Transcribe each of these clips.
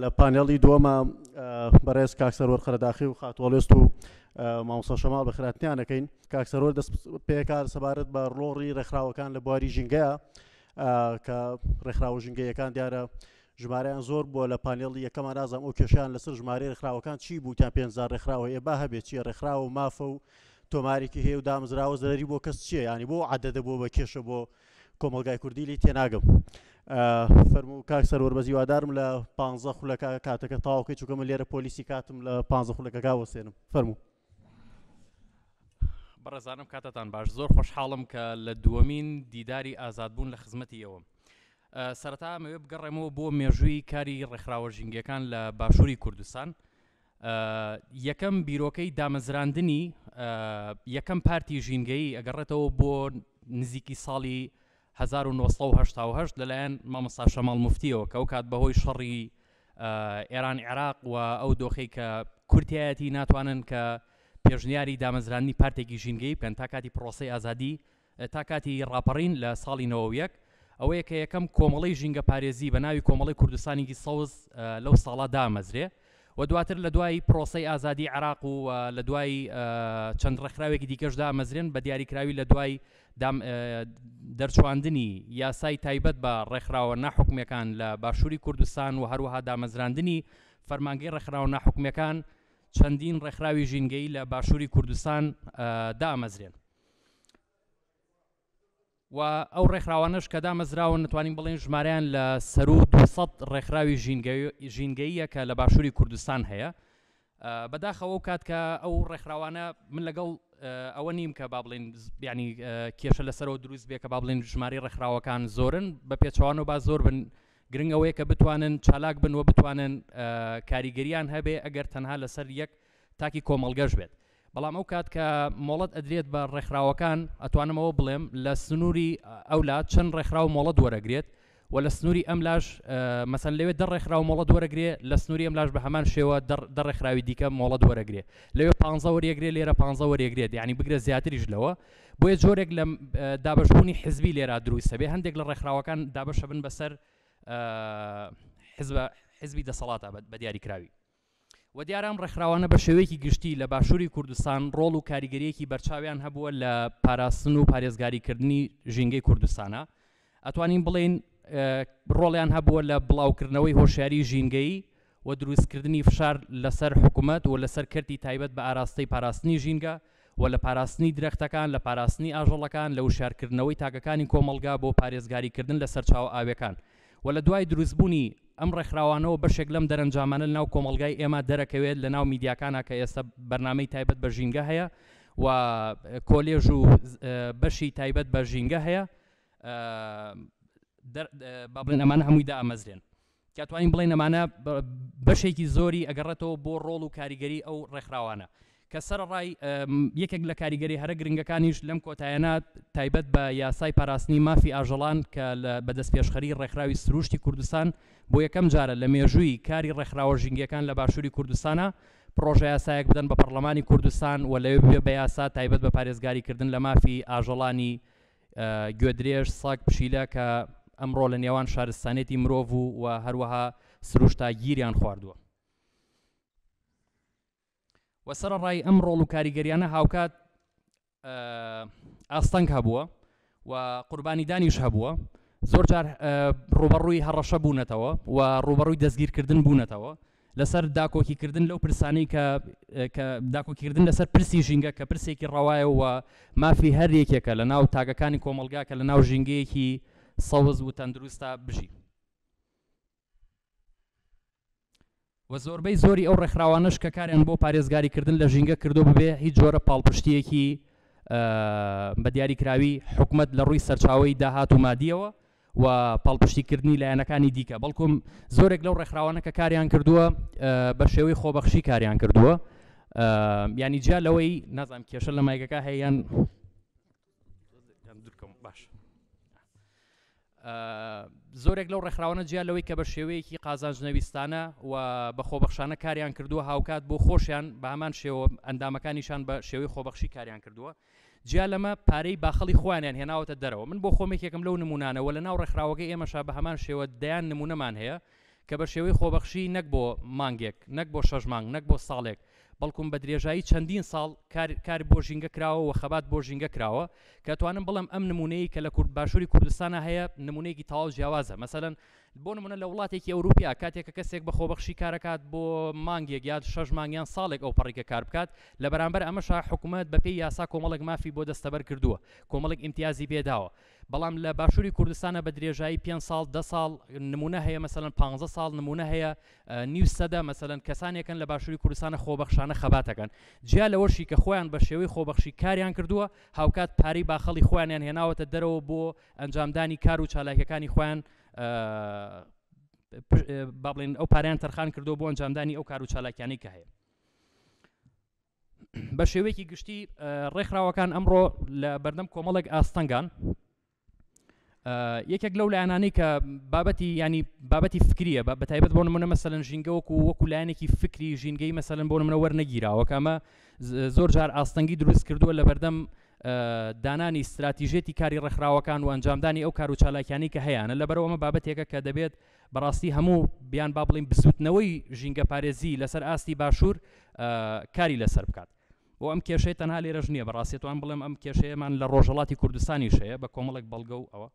لە پانێڵی دووەما بەڕێز کاک سەروەر قەرەداخی و خاتوەڵێست و مامۆستا شەماڵ بە خراپنیان دەکەین کاک سەروەر دەست پێکار سەبارەت بە ڕۆڕی ڕێکخراوەکان لە بواری ژینگەیە کە ڕێکخراوە ژینگەیەکان دیارە ژمارەیان زۆر بووە لە پانێڵی یەکەمان نازام ئەو کێشیان لەسەر ژمارە ڕێکخراوەکان چی بوو تا پێنجزار ڕێکخراوە ئێ با هەبێت چیە ڕێکخراوە مافە و تۆمارێکی هەیە و دامزراوە زەرری بۆ کەس چیە ینی بۆ عادەدە بۆ بە کێشە بۆ کۆمەڵگای کوردی لی تێناگەم فەرموو کاک سەرۆر بەزی وادارم لە پ خولەکە کاتەکە تاوکەی چووکە من لێرە پۆلیسی کاتم لە پ خولەکەکە وەسێنم فەرموو بەڕێزانم کاتتان باش زۆر خۆشحاڵم کە لە دووەمین دیداری ئازادبوون لە خزمەتی ئەوە سەرتامەوێ بگەڕێمەوە بۆ مێژووی کاری ڕێکخراوە ژینگەکان لە باشووری کوردستان یەکەم بیرۆکەی دامەزراندنی یەکەم پارتی ژینگەیی ئەگەڕێتەوە بۆ نزیکی ساڵی 1970 لەلایەن مامۆستا شەماڵ مفتیەوە کە ئەو کات بەهۆی شەڕی ئێران عێراق و ئەو دۆخی کە کورتایەتی ناتوانن کە پێشنیاری دامەزرانی پارتێکی ژینگەی بکەن تا کاتی پرۆسی ئازادی تا کاتی ڕاپەڕین لە ساڵی نۆ یەک ئەوەیە کە یەکەم کۆمەڵەی ژینگەپارێزی بە ناوی کۆمەڵەی کوردستانیی سەوز لەو ساڵە دامەزرێ و دواتر لە دوای پرۆسەی ئازادی عراق و لە دوای چەند ڕێکخراوێکی دیکەش دامەزرێن بە دیاریکراوی لە دوای دەرچواندنی یاسای تایبەت بە ڕێکخراوە ناحکومیەکان لە باشووری کوردستان و هەروەها دامەزراندنی فەرمانگەی ڕێکخراوە ناحکومیەکان چەندین ڕێکخراوی ژینگەی لە باشووری کوردستان دامەزرێن و ئەو ڕێکخراوانەش کە دامەزراون نتوانین بڵێن ژمارەیان لە سەرو دوسەد ڕێکخراوی ژینگەیە کە لە باشووری کوردستان هەیە بەداخەوە و کات کە ئەو ڕێکخراوانە من لەگەڵ ئەوە نیم کە با بڵێن بیانی کێشە لەسەرەوە دروست بێ کە با بڵێن ژماری ڕێکخراوەکان زۆرن بە پێچوان و با زۆر بن گرنگەوەیە کە بتوانن چالاک بن و بتوانن کاریگەریان هەبێ ئەگەر تەنها لەسەر یەک تاکی کۆمەڵگەش بێت بەڵام ئەو کات کە مۆڵەت ئەدرێت بە ڕێکخراوەکان ئەتوانم ئەوە بڵێم لە سنووری ئەولا چەند ڕێکخراو مۆڵەت وەرەگرێت و لە سنووری ئەم لاش مەسەن لەوێ دە ڕێکخراو مۆڵەت وەرەگرێ لە سنووری ئەم لاش بە هەمان شێوە دە ڕێکخراوی دیکە مۆڵەت وەرەگرێ لەوێ پ وەرەگرێ لێرە پ وەرەگرێت ینی بگرە زیاتریش لەوە بۆیە جۆرێک لە دابشبوونی حزبی لێرا دروستە بێ هەندێک لە ڕێکخراوەکان دابشە بن بەسەر حزب حزبی دەسەڵاتە بە دیاریکراوی وە دیارە ئەم ڕێکخراوانە بە شێوەیەکی گشتی لە باشووری کوردستان ڕۆڵ و کاریگەریەکی بەرچاویان هەبووە لە پاراستن و پارێزگاری کردنی ژینگەی کوردستانا ئەتوانین بڵێین ڕۆڵیان هەبووە لە بڵاوکردنەوەی هۆشیاری ژینگەیی و دروستکردنی فشار لەسەر حکوومەت و لەسەر کەرتی تایبەت بە ئاراستەی پاراستنی ژینگە و لە پاراستنی درەختەکان، لە پاراستنی ئاژەڵەکان، لە وشیارکردنەوەی تاکەکانی کۆمەڵگا بۆ پارێزگاریکردن لە سەرچاوە ئاوییەکان و لە دوای دروستبوونی ئەم ڕێکخراوانەوە بەشێک لەم دەرەنجامانە لەناو کۆمەڵگای ئێمە دەرەکەوێت لەناو میدیاکانا کە ئێستا بەرنامەی تایبەت بە ژینگە هەیە و کۆلێژ و بەشی تایبەت بە ژینگە هەیە با بڵێن ئەمانە هەمووی دامەزرێن. کە توانین بڵێین ئەمانە بەشێکی زۆری ئەگەڕێتەوە بۆ ڕۆڵ و کاریگەری ئەو ڕێکخراوانە کە سەرەڕای یەکێک لە کاریگەری هەرە گرنگەکانیش لەم کۆتایەنە تایبەت بە یاسای پاراستنی مافی ئاژەڵان کە لە بەدەست پێشخەری ڕێکخراوی سروشتی کوردستان بۆ یەکەم جارە لە مێژووی کاری ڕێکخراوە ژینگەکان لە باشووری کوردستانە پرۆژە یاسایەک بدەن بە پەرلەمانی کوردستان و لەوێ بە یاسا تایبەت بە پارێزگاریکردن لە مافی ئاژەڵانی گوێدرێژ، ساگ پشیلە کە ئەمڕۆ لە نێوان شارستانێتی مرۆڤ و و هەروەها سروشتا گیریان خواردووە. و سەرەڕای ئەم ڕۆڵ و کاریگەریانە هاوکات ئاستەنگ هەبووە و قوربانیدانیش هەبووە زۆر جار ڕوبەڕووی هەڕەشە بوونەتەوە و ڕوبەڕووی دەستگیرکردن بوونەتەوە لەسەر داکۆکیکردن لەو پرسانەی کە کە داکۆکیکردن لەسەر پرسی ژینگە کە پرسێکی ڕەوایە و مافی هەر یەکێکە لە ناو تاکەکانی کۆمەڵگا کە لە ناو ژینگەیەکی سەوز و تەندروستا بژی و زۆربەی زۆری ئەو ڕێکخراوانەش کە کاریان بۆ پارێزگاریکردن لە ژینگە کردو ببێ هیچ جۆرە پاڵپشتیەکی بە دیاریکراوی حکومت لە ڕووی سەرچاوی داهات و مادیەوە و پاڵپشتی کردنی لایەنەکانی دیکە بەڵکو زۆرێک لەو ڕێکخراوانە کە کاریان کردووە بە شێوەی خۆبەخشی کاریان کردووە ینی جیا لەوەی نازانام کێشە لە مایگەکە هەیەیان باش زۆرێک لەو ڕێکخراوانە جیا لەوەی کە بە شێوەیەکی قازانجنەویستانە و بە خۆبەخشانە کاریان کردووە هاوکات بۆ خۆشیان بە هەمان شێوە ئەندامەکانیشان بە شێوەی خۆبەخشی کاریان کردووە جیا لەمە پارەی باخەڵی خۆیانیان هێناوەتە دەرەوە. من بۆ خۆم یەکێکم لەو نموونانە وە لە ناو ڕێکخراوەکەی ئێمەشا بە هەمان شێوە دەیان نموونەمان هەیە کە بە شێوەی خۆبەخشی نەک بۆ مانگێک، نەک بۆ شەش مانگ، نەک بۆ ساڵێک بەڵکوم بە درێژایی چەندین ساڵ کار کار بۆ ژینگە کراوە وە خەبات بۆ ژینگە کراوە کە ئەتوانم بڵێم ئەم نموونەیەی کە لە کورد باشووری کوردستانا هەیە نموونەیەکی تەواو جیاوازە مەسەلەن بۆ نموونە لە وڵاتێکی ئەوروپیا کاتێک کە کەسێک بە خۆبەخشی کارەکات بۆ مانگێک یاد شەش مانگ یان ساڵێک ئەو پەڕیکە کار بکات لە بەرامبەر ئەمەشا حکومەت بە پێی یاسا کۆمەڵێک مافی بۆ دەستەبەر کردووە کۆمەڵێک ئیمتیازی پێ داوە بەڵام لە باشووری کوردستانە بە درێژایی پێنج ساڵ دە ساڵ نمونە هەیە مەسەن پانزە ساڵ نمونە هەیە نیو سەدە مەسەن کەسانێکن لە باشووری کوردستانە خۆبەخشانە خەباتەکەن جیا لەوەشی کە خۆیان بە شێوەی خۆبەخشی کاریان کردووە هاوکات پارەی باخەڵی خۆیانیان هێناوەتە دەرەوە بۆ ئەنجامدانی کار و چالاکیەکانی خۆیان با بڵێن ئەو پاریان تەرخان کردو بۆ ئەنجامدانی ئەو کار و چالاکیانی کە هەیە بە شێوەیەکی گشتی ڕێکخراوەکان ئەمڕۆ لە بەردەم کۆمەڵێک ئاستەنگان یەکێک لەو لایەنانەی کە بابەتی ینی بابەتی فکریە بە بەتایبەت بۆ منە مەسەن ژینگە وەکو وەکو لایەنێکی فکری ژینگەی مەسەن بۆ منە وەرنەگیراوە کامە زۆر جار ئاستەنگی دروست کردووە لە بەردەم دانانی ستراتیژێتی کاری ڕێکخراوەکان و ئەنجامدانی ئەو کار و چالاکیانی کە هەیەە لەبەرەوە ئەمە بابەتێکە کە دەبێت بەڕاستی هەموو بیان با بڵین بزوتنەوەی ژینگە پارێزی لەسەر ئاستی باشوور کاری لەسەر بکات بۆ ئەم کێشەی تەنها لێرەش نییە بەڕاستێتوان بڵێم ئەم کێشەیەمان لە ڕۆژەڵاتی کوردستانی شەیە بە کۆمەڵێک بەڵگە و ئەوە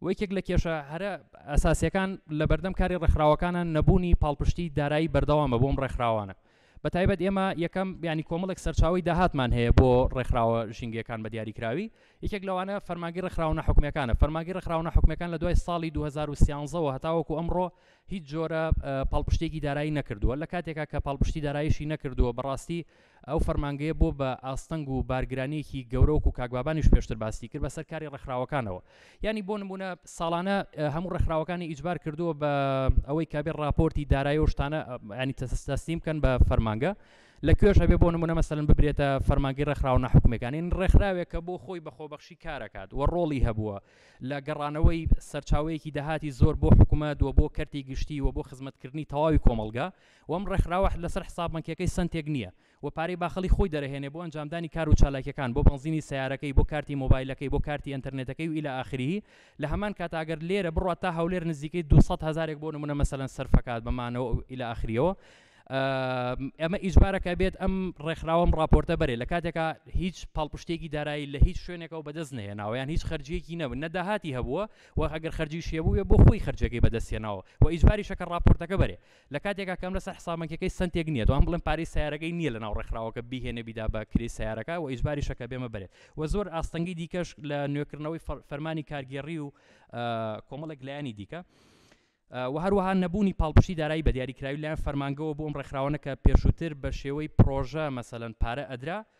و یەکێک لە کێشە هەرە ئەساسیەکان لە بەردەم کاری ڕێکخراوەکانە نەبوونی پاڵپشتی دارایی بەردەوامە بۆم ڕێکخراوانە بە تایبەت ئێمە یەکەم بیانی کۆمەڵێک سەرچاوی داهاتمان هەیە بۆ ڕێکخراوە ژینگەکان بە دیاریکراوی یەکێک لەوانە فەرماگی ڕێکخراونە حکومەکانە فەرماگی ڕێکخراونە حکومەکان لە دوای ساڵی 2013ەوە هەتاوەکو ئەمڕۆ هیچ جۆرە پاڵپشتێکی دارایی نەکردووە لە کاتێکا کە پاڵپشتی دارایشی نەکردووە بەڕاستی ئەو فەرمانگەیە بۆ بە ئاستەنگ و بارگرانیەکی گەورە وەکو کاک بابانیش پێشتر باسی کرد بەسەر کاری ڕێکخراوەکانەوە یانی بۆ نمونە ساڵانە هەموو ڕێکخراوەکانی ئیجبار کردووە بە ئەوەی کابێ ڕاپۆرتی دارایی و شتانە ینی تەسەستیم کەن بە فەرمانگە لە کوێش هەبێ بۆ نمونە مەسەن ببرێتە فەرمانگی ڕێکخراوە نەحکومەکانی ڕێکخراوێک کە بۆ خۆی بە خۆبەخشی کارەکات و ڕۆڵی هەبووە لە گەڕانەوەی سەرچاوەیەکی داهاتی زۆر بۆ حکوومەت و بۆ کەرتی گشتی و بۆ خزمەتکردنی تەواوی کۆمەلگا و ئەم ڕێکخراوە لەسەر حساب بەنکیەکەی سەنتێک نییە و پارەی باخەڵی خۆی دەرەهێنێ بۆ ئەنجامدانی کار و چالاکیەکان بۆ بەنزینی سەیارەکەی بۆ کارتی مۆبایلەکەی بۆ کارتی ئەنتەرنێتەکەی و الی اخره لە هەمان کاتا ئەگەر لێرە بڕوات تا هەولێر نزیکەی دوو سەد هەزارێک بۆ نمونە مەسەلەن سەرف ئەکات بە مانەوە و الی اخره ئەمە ئیجبارە کە بێت ئەم ڕێکخراوە ئەم ڕاپۆرتە بەرێ لە کاتێکا هیچ پاڵپشتێکی دارایی لە هیچ شوێنێکەوە بەدەست نەهێناوە یان هیچ خەرجیەکی نەبن نە داهاتی هەبووە و ئەگەر خەرجیشی هەبوو بێ بۆ خۆی خەرجیەکەی بەدەست هێناوە و ئیجباریشە کە ڕاپۆرتەکە بەرێ لە کاتێکا کە ئەم لەسەر حساب بانکیەکەی سەنتێک نییە تەوام بڵێن پارەی سیارەکەی نییە لەناو ڕێکخراوەکە بیهێنێ بیدا بە کرێی سیارەکە و ئیجباریشە کە بێمە بەرێت و زۆر ئاستەنگی دیکەش لە نوێکردنەوەی فەرمانی کارگێڕی و کۆمەڵێک لایەنی دیکە و هەروەها نەبوونی پاڵپشتی دارایی بە دیاریکراوی لایەن فەرمانگەوە بۆ ئەم ڕێکخراوانە کە پێشووتر بە شێوەی پرۆژە مەسەەن پارە ئەدرا و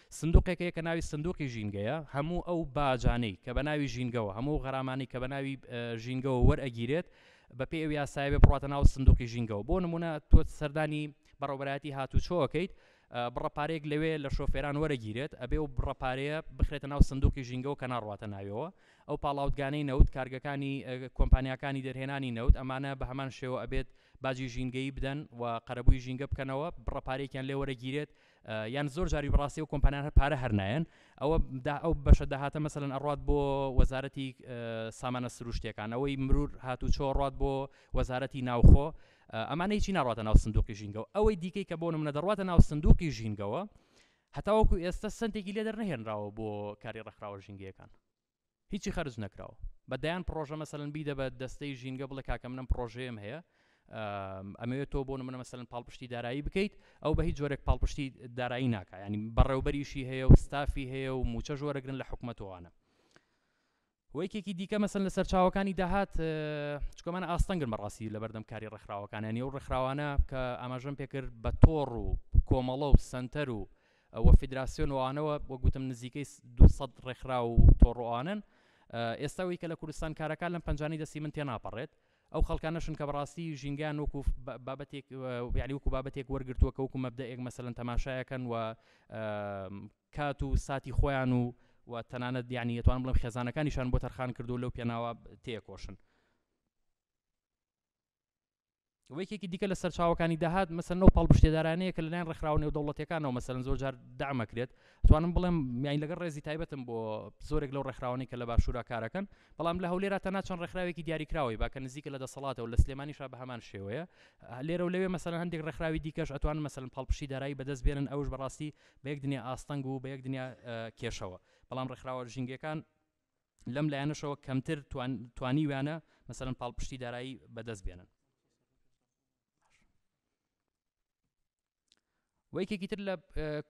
سندوقێکەیە کە ناوی سندوقی ژینگەیە، هەموو ئەو باجانەی کە بە ناوی ژینگەوە، هەموو ئەو غەرامانەی کە بە ناوی ژینگەوە وەرئەگیرێت، بە پێی ئەو یاسایە بێ بڕاتە ناو سندوقی ژینگەوە، بۆ نمونە تۆ سەردانی بەڕێوەبەرایەتی هاتوچۆ ئەکەیت، بڕە پارەیەک لەوێ لە شۆفێران وەرەگیرێت، ئەبێ ئەو بڕە پارەیە بخرێتە ناو سندوقی ژینگەوە کە ناڕواتە ناوێوە، ئەو پاڵاوتگانەی نەوت، کارگەکانی کۆمپانیاکانی دەرهێنانی نەوت، ئەمانە بە هەمان شێوە ئەبێت باجی ژینگەیی بدەن و قەرەبووی ژینگە بکەنەوە، بڕە پارەیەکیان لێ وەرەگیرێت، یان زۆر جاری بەڕاستی ئەو کۆمپانیان هەر پارە هەر نایەن ئەوە دا ئەو بەشە داهاتە مەسەن ئەڕات بۆ وەزارەتی سامانە سروشتەکان ئەوەی مرور هاتو چۆڕات بۆ وەزارەتی ناوخۆ ئەمانەی چی ناڕاتە ناو سندوقی ژینگەەوە ئەوەی دیکەی کە بۆ منە دەڕاتە ناو سندوقی ژینگەوە هەتاوەکو ئێستا سنتێکی لێ دەرنەهێنراوە بۆ کاری ڕێکخراوە ژینگەکان هیچی خەرج نەکراوە بە دەیان پرۆژە مەسەن بیدە بە دەستەی ژینگە بڵێ کاکە منم پرۆژەیەم هەیە ئەمەوێت تۆ بۆ منە مەسەن پاڵپشتی دارایی بکەیت ئەو بە هیچ جۆرێک پاڵپشتی دارایی ناکە ینی بەڕێوبەریشی هەیە و ستافی هەیە و موچە ژۆرەگرن لە حکوومەتوانە وەیکێکی دیکە مەسن لە سەرچاوەکانی داهات چکۆمان ئاستەنگن بەڕاستی لە بەردەم کاری ڕێکخراوەکانیان و ڕێکخراوانە کە ئاماژەم پێکرد بە تۆڕ و کۆمەڵە و سنتەر و و فیدراسیۆن ئەوانەوە وەک گوتم نزیکەی دوو سەد ڕێکخراو و تۆڕ و ئەوانەن ئێستا وی کە لە کوردستان کارەکان لەم پەنجانەی دەستی من تێناپەڕێت ئەو خەڵکانەشن کە بەڕاستی ژینگەیان وەکو بابەتێک یعنی وەکو بابەتێک وەرگرتووە کە وەکو مەبدەئێک مەسەلەن تەماشایەکەن و کات و ساتی خۆیان و و تەنانەت یعنی دەتوانم بڵێم خێزانەکانیشان بۆ تەرخان کردو لەو پێناوە تێکۆشن و یەکێکی دیکە لە سەرچاوەکانی داهات مەسەن و پاڵپشتێدارانەیە کە لەلایەن ڕێکخراوە نێودەوڵەتەکانەوە مەسەن زۆر جار دامەکرێت توانم بڵێم میانی لەگەڵ ڕێزی تایبەتم بۆ زۆرێک لەو ڕێکخراوانی کە لە باشوورا کارەکەن بەڵام لە هەولێرا تەنا چەند ڕێکخراوێکی دیاریکراوەی باکە نزیکە لە دەسەڵاتەوە لە سلێمانیشا بە هەمان شێوەیە لێرە و لەوێ مەسەن هەندێک ڕێکخراوی دیکەش ئەتوان مەسەن پاڵپشی دارایی بەدەست بێنن ئەوش بەڕاستی بە یەک دنیا ئاستەنگ و بە یەک دنیا کێشەوە بەڵام ڕێکخراوە ژینگەکان لەم لایەنەشەوە کەمتر توانیویانە مەسەرەن پاڵپشتی دارایی بەدەست بێنن وەیکێکی تر لە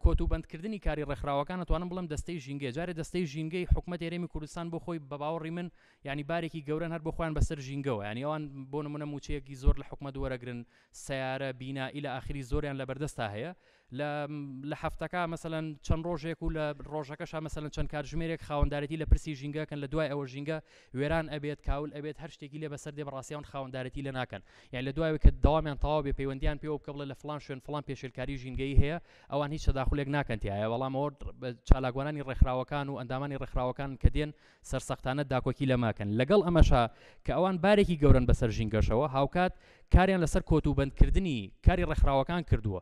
کۆت و بەندکردنی کاری ڕێکخراوەکان توانم بڵم دەستەی ژینگە جارێ دەستەی ژینگەی حکوومەت ێرەمی کوردستان بۆ خۆی بە باوەڕی من ینی بارێکی گەورەن هەر بۆ خۆیان بەسەر ژینگەوە ینی ئەوان بۆ نمونە موچەیەکی زۆر لە حکومە دووەرەگرن سیارە بینا ئیلە ئاخری زۆریان لە بەردەستا هەیە لە لە هەفتەکە مەسەلەن چەند ڕۆژێک و لە ڕۆژەکەشا مەسەلەن چەند کاتژمێرێک خاوەندارێتی لە پرسی ژینگەکەن لە دوای ئەوە ژینگە وێران ئەبێت کاول ئەبێت هەر شتێکی لێ بەسەر دێ بەڕاستی ئەوان خاوەندارێتی لێ ناکەن یان لە دوای کە دەوامیان تەواو بێ پەیوەندیان پێوە بکە بڵێ لە فلان شوێن فلان پێشێلکاری ژینگەیی هەیە ئەوان هیچ تەداخولێک ناکەن تیایە بەڵام ئەوە چالاکوانانی ڕێکخراوەکان و ئەندامانی ڕێکخراوەکان کە دێن سەرسەختانە داکۆکی لەماکەن، لەگەڵ ئەمەشا کە ئەوان بارێکی گەورەن بەسەر ژینگەشەوە، هاوکات کاریان لەسەر کۆتوبەندکردنی کاری ڕێکخراوەکان کردووە،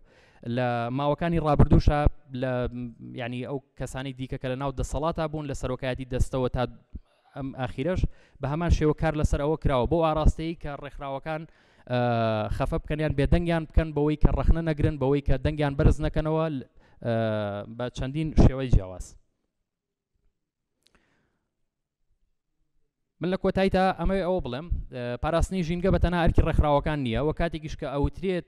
لە ماوەکانی ڕابردووشا لە یانی ئەو کەسانی دیکە کە لەناو دەسەڵاتا بوون لە سەرۆکایەتی دەستەوە تا ئەم ئاخیرەش بە هەمان شێوە کار لەسەر ئەوە کراوە بۆ ئاراستەی کە ڕێکخراوەکان خەفە بکەنیان بێدەنگیان بکەن بەوەی کە ڕەخنە نەگرن بەوەی کە دەنگیان بەرز نەکەنەوە بە چەندین شێوەی جیاواز من لە کۆتاییدا ئەمەوێ ئەوە بڵێم پاراستنی ژینگە بە تەنها ئەرکی ڕێکخراوەکان نییە و کاتێکیش کە ئەوترێت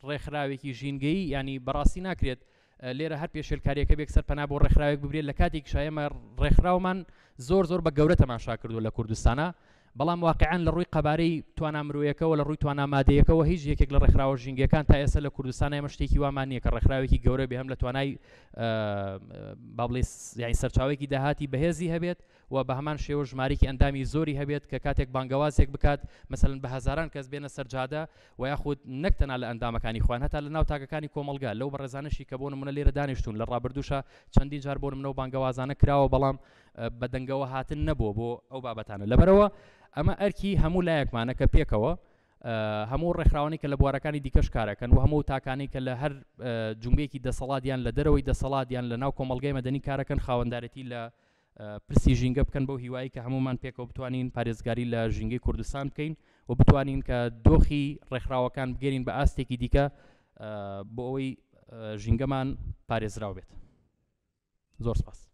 ڕێکخراوێکی ژینگەیی ینی بەڕاستی ناکرێت لێرە هەر پێشێلکاریەکە بێک سەر پەنا بۆ ڕێکخراوێک ببرێت لە کاتێک شایمە ڕێکخراومان زۆر زۆر بە گەورە تەماشا کردو لە کوردستانە بەڵام واقیعەن لە ڕووی قەبارەی توانا مرۆیەکەوە لە ڕووی توانا مادەیەکەوە هیچ یەکێک لە ڕێکخراوە ژینگەکان تا ئێستا لە کوردستان ئێمە شتێکی وامان نییە کە ڕێکخراوێکی گەورە بێ هەم لە توانای بابلیس یعنی سەرچاوێکی داهاتی بەهێزی هەبێت و بە هەمان شێوە ژمارێکی ئەندامی زۆری هەبێت کە کاتێک بانگەوازێک بکات مەسەن بە هزاران کەس بێنە سەرجادە و یاخود نەکتەنا لە ئەندامەکانی خوان هەتا لە ناو تاکەکانی کۆمەلگا لەو بەڕێزانشی کە بۆ منە لێرە دانیشتون لە ڕابردوشە چەندین جار بۆ منەوە بانگەوازانە کراوە بەڵام و بە دەنگەوە هاتن نەبووە بۆ ئەو بابەتانە لەبەرەوە ئەمە ئەرکی هەموو لایەکمانە کە پێکەوە هەموو ڕێکخراوانی کە لە بوارەکانی دیکەش کارەکەن و هەموو تاکانی کە لە هەر جمبێکی دەسەڵاتیان لە دەرەوەی دەسەڵاتیان لە ناو کۆمەلگای مەدەنی کارەکەن خاوەندارێتی لە پرسی ژینگە بکەن بۆ هیوایی کە هەمومان پێکەوە بتوانین پارێزگاری لە ژینگەی کوردستان بکەین و بتوانین کە دۆخی ڕێکخراوەکان بگەرین بە ئاستێکی دیکە بۆ ئەوەی ژینگەمان پارێزراو بێت زۆر سپاس